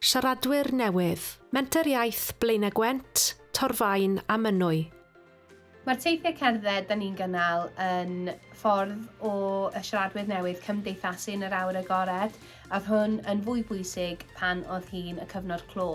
Siaradwyr newydd, Menter Iaith Blaenau Gwent, Torfaen a Mynwy. Mae'r teithiau cerdded da ni'n gynnal yn ffordd o y siaradwyr newydd cymdeithasu yn yr awyr agored, a oedd hwn yn fwy bwysig pan oedd hi'n y cyfnod clo,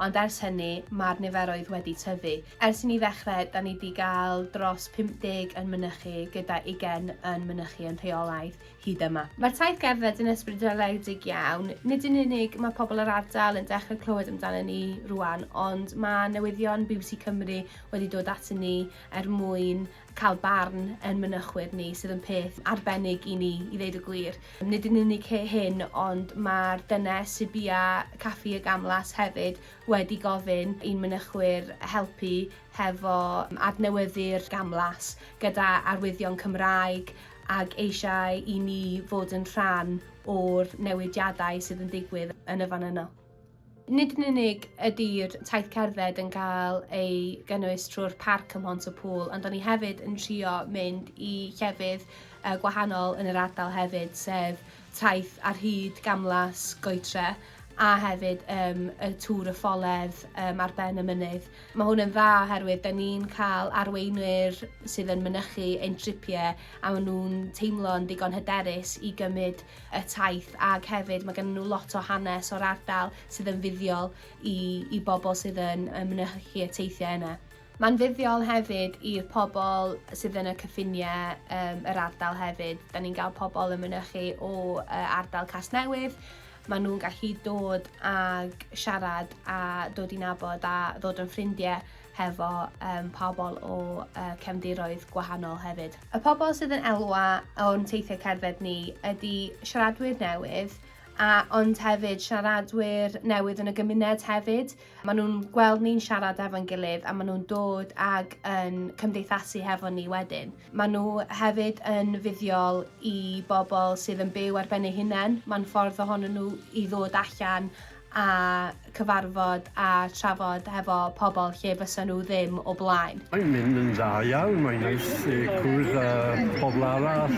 ond ers hynny mae'r niferoedd wedi tyfu. Ers i ni ddechrau, da ni wedi cael dros 50 yn mynychu gyda ugain yn mynychu yn rheolaidd. hyd yma. Mae'r taith gerdded yn ysbrydoledig iawn, nid yn unig mae pobl yr ardal yn dechrau clywed amdano ni rwan, ond mae newyddion bbc Cymru wedi dod ato ni er mwyn cael barn yn mynychwyr ni, sydd yn peth arbennig i ni, i ddeud y gwir. Nid yn unig hyn, ond mae'r dynes sydd bia Caffi y Gamlas hefyd wedi gofyn i'n mynychwyr helpu hefo adnewyddu'r gamlas gyda arwyddion Cymraeg ac eisiau i ni fod yn rhan o'r newidiadau sydd yn digwydd yn y fan yno. Nid yn unig ydy'r taith cerdded yn cael ei gynnwys trwy'r parc ym Mhont y Pŵl, ond da ni hefyd yn trio mynd i llefydd gwahanol yn yr ardal hefyd, sef taith ar hyd gamlas Goetre a hefyd yym y Tŵr y Ffoledd yym ar ben y mynydd. Mae hwn yn dda oherwydd da ni'n cael arweinwyr sydd yn mynychu ein tripiau a maen nhw'n teimlo'n ddigon hyderus i gymryd y taith ac hefyd mae gen nhw lot o hanes o'r ardal sydd yn fuddiol i, i bobl sydd yn, yn mynychu y teithiau yna. Mae'n fuddiol hefyd i'r pobl sydd yn y cyffiniau um, yr ardal hefyd. Da ni'n cael pobl yn mynychu o uh, ardal Casnewydd. Maen nhw'n gallu dod ag siarad a dod i nabod a ddod yn ffrindiau hefo um, pobl o uh, cefndiroedd gwahanol hefyd. Y pobl sydd yn elwa o'n teithiau cerdded ni ydy siaradwyr newydd, a ond hefyd siaradwyr newydd yn y gymuned hefyd, Maen nhw'n gweld ni'n siarad efo'n gilydd a maen nhw'n dod ag yn cymdeithasu hefo ni wedyn. Maen nhw hefyd yn fuddiol i bobl sydd yn byw ar ben eu hunain. Mae'n ffordd ohonyn nhw i ddod allan a cyfarfod a trafod hefo pobl lle fysa nhw ddim o blaen. Mae'n mynd yn dda iawn, mae'n neis cwrdd â pobl arall,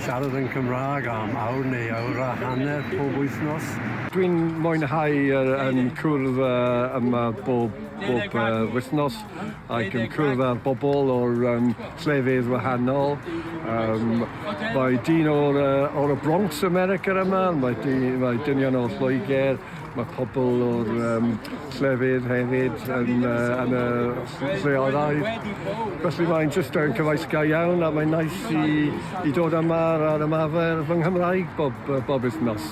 siarad yn Cymraeg am awr neu awr a hanner pob wythnos. Dwi'n mwynhau yn cwrdd yma bob wythnos ac yn cwrdd â'r bobl o'r llefydd wahanol. Mae dyn o'r Bronx, America yma, mae dynion o Lloegr, Mae pobl o'r um, llefydd hefyd yn, uh, yn y lleolau. Felly mae'n jyst yn cyfais ga iawn a mae'n nais i, i dod yma ar ymarfer fy Nghymraeg bob, bob wythnos.